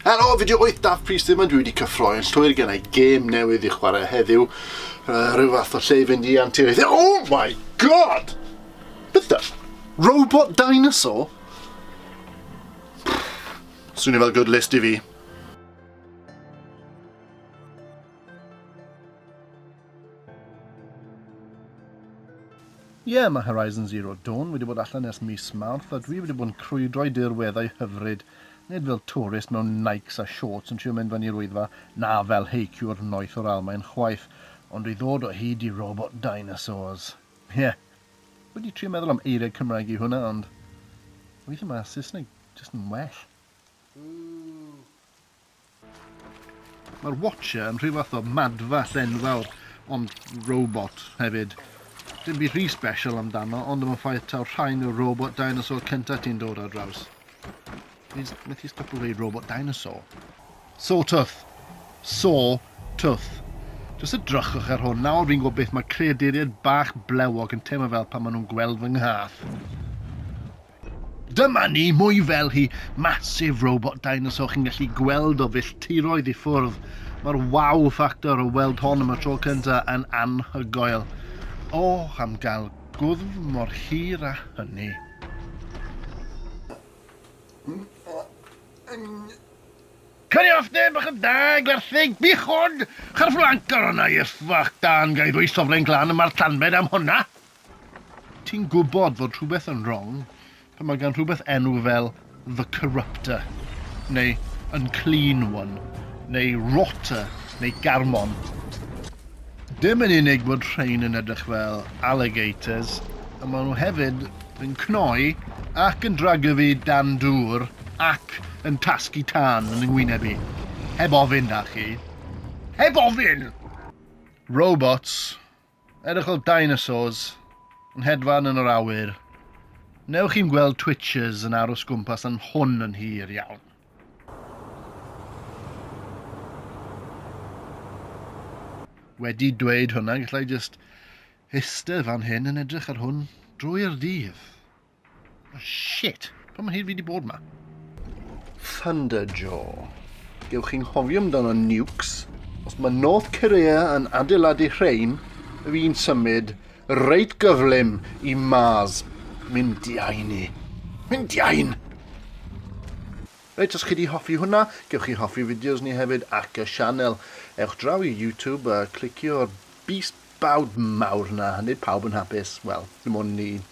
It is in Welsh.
Helo, fi di oed daf pris ddim yn dwi wedi cyffroi yn llwyr gen i gêm newydd i chwarae heddiw. Uh, rhyw fath o lle i fynd i antur Oh my god! Beth da? Robot dinosaur? Swnio fel good list i fi. Ie, mae Horizon Zero Dawn wedi bod allan ers mis Mawrth a dwi wedi bod yn crwydro i dirweddau hyfryd, nid fel twrist mewn Nikes a shorts yn trio mynd fan i'r Wyddfa, na fel heiciwr noeth o'r Almaen chwaith, ond i ddod o hyd i robot dinosaurs. Ie, wedi trio meddwl am eiriau Cymraeg i hwnna, ond weithiau mae Saesneg jyst yn well. Ww! Mae'r Watcher yn rhyw fath o madfa llenfawr, ond robot hefyd. Dim byd rhy special amdano, ond am y ffaith taw rhain yw'r robot dinosaur cyntaf ti'n dod ar draws. Fi'n methu stopio dweud robot dinosaur. Sawtooth. Sawtooth. Jyst edrychwch ar hwn, nawr fi'n gwybod beth mae creaduriaid bach blewog yn teimlo fel pan maen nhw'n gweld fy nghath. Dyma ni, mwy fel hi, massive robot dinosaur chi'n gallu gweld o filltiroedd i ffwrdd. Mae'r wow factor o weld hon am y tro cynta yn anhygoel. O, am gael gwddf mor hir a hynny. Cynnig off neb bach yn da, gwerthig, bichod, charflancar o'na i'r ffwc dan gael rwy'n sofren glan yma'r tanbed am hwnna. Ti'n gwybod fod rhywbeth yn wrong pan mae gan rhywbeth enw fel The Corruptor, neu Unclean One, neu Rotter, neu Garmon. Dim yn unig bod rhain yn edrych fel alligators, y maen nhw hefyd yn cnoi ac yn dragyfu dan dŵr ac yn tasgu tân yn yngwyneb i. Heb ofyn, da chi. Heb ofyn! Robots, Edrych fel dinosaurs yn hedfan yn yr awyr. Newch chi'n gweld twitches yn aros gwmpas yn hwn yn hir iawn. wedi dweud hwnna, gallai jyst eistedd fan hyn yn edrych ar hwn drwy'r dydd. Oh, shit. Pa mae hyd fi wedi bod yma? Thunderjaw. Gewch chi'n hofio amdano nukes. Os mae North Korea yn adeiladu rhain, y fi'n symud reit gyflym i Mars. Mynd di ain i. Mynd di ain! Reit, os chi wedi hoffi hwnna, gewch chi hoffi fideos ni hefyd ac y sianel. Ewch draw i YouTube a clicio'r beast bawd mawr na, a nid pawb yn hapus. Wel, dim ond ni.